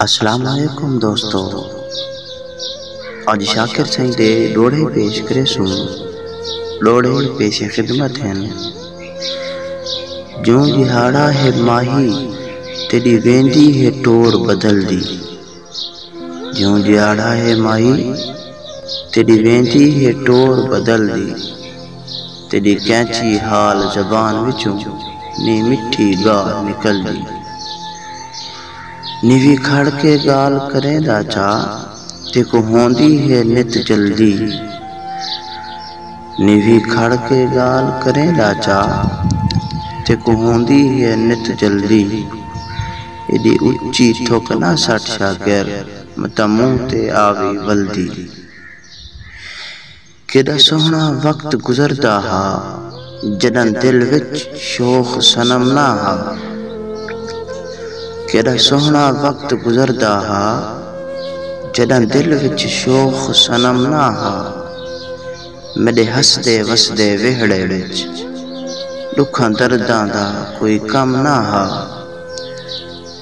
السلام علیکم دوستو اج شاکر سائیں دے ڈوڑے پیش کرے سوں ڈوڑے پیش خدمت ہیں جوں دہاڑا ہے ماہی تیڈی ویندی ہے ٹور بدل دی جوں دہاڑا ہے ماہی تیڈی ویندی ہے ٹور بدل دی تیݙی کینچی حال زبان وچوں نی مٹھی ڳالھ نکلدی نیوی کھڑ کے ڳالھ کریں دا چاہ تیکوں ہوندی ہے نت جلدی نیوی کھڑ کے ڳالھ کریں دا چاہ تیکوں ہوندی ہے نت جلدی ایݙی اچی تھک نہ سٹ شاکر متاں منہ تے آوی ولدی۔ کیݙا سوہݨا وقت گزردا ہا جݙاں دل وچ شوخ صنم نہ ہا کیݙا سوہݨا وقت گزردا ہا جݙاں دل وچ شوخ صنم نہ ہا میݙے ہسدے وسدے ویہڑے وچ ݙکھاں درداں دا کوئی کم نہ ہا۔